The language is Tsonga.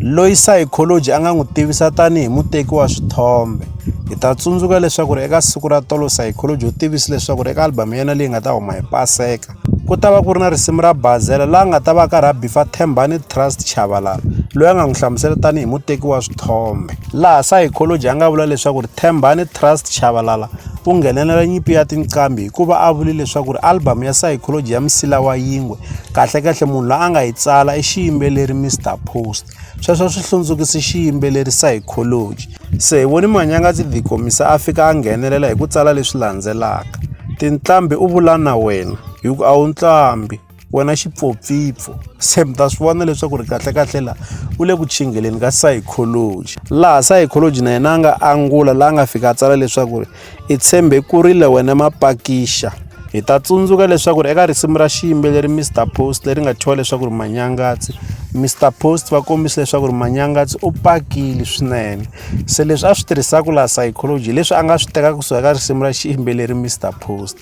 loyi sayikholoji a nga n'wi tivisa tanihi muteki wa swithombe hi ta tsundzuka leswaku ri eka siku ra tolo sayikholoji u tivisi leswaku ri eka album ya yena leyi nga ta huma hi paseka ku ta va ku ri na risimu ra bazela laha nga ta va ka ra bifa thembani trust chavalala loyi a nga n'wi hlamusela tanihi muteki wa swithombe laha sayikholoji a nga vula leswaku ri thembani trust chavalala ku nghenelela nyimpi ya tinqambi hikuva a vule leswaku ri album ya psychology ya msila wa yingwe kahlekahle munhu la a nga yi tsala i xiyimbeleri mr post sweswo swi hlundzukise xiyimbeleri psychology se hi voni manyanga tsi dikomisa a fika a nghenelela hi ku tsala leswi landzelaka tinqambi u vula na wena hi ku a wu nqambi wena xipfopfipfo se mi ta swi vona leswaku ri kahlekahle laha u le ku chingeleni ka psychology laha psychology na yena a nga angula laha a nga fika a tsala leswaku ri i tshembe ku rile wena mapakixa hi ta tsundzuka leswaku ri eka risimu ra xiyimbeleri mr post leri nga thyiwa leswaku ri manyangatsi mr post va kombisa leswaku ri manyangatsi u pakile swinene se leswi a swi tirhisaka laha psychology leswi a nga swi tekaka kusuka ka risimu ra xiyimbeleri mr post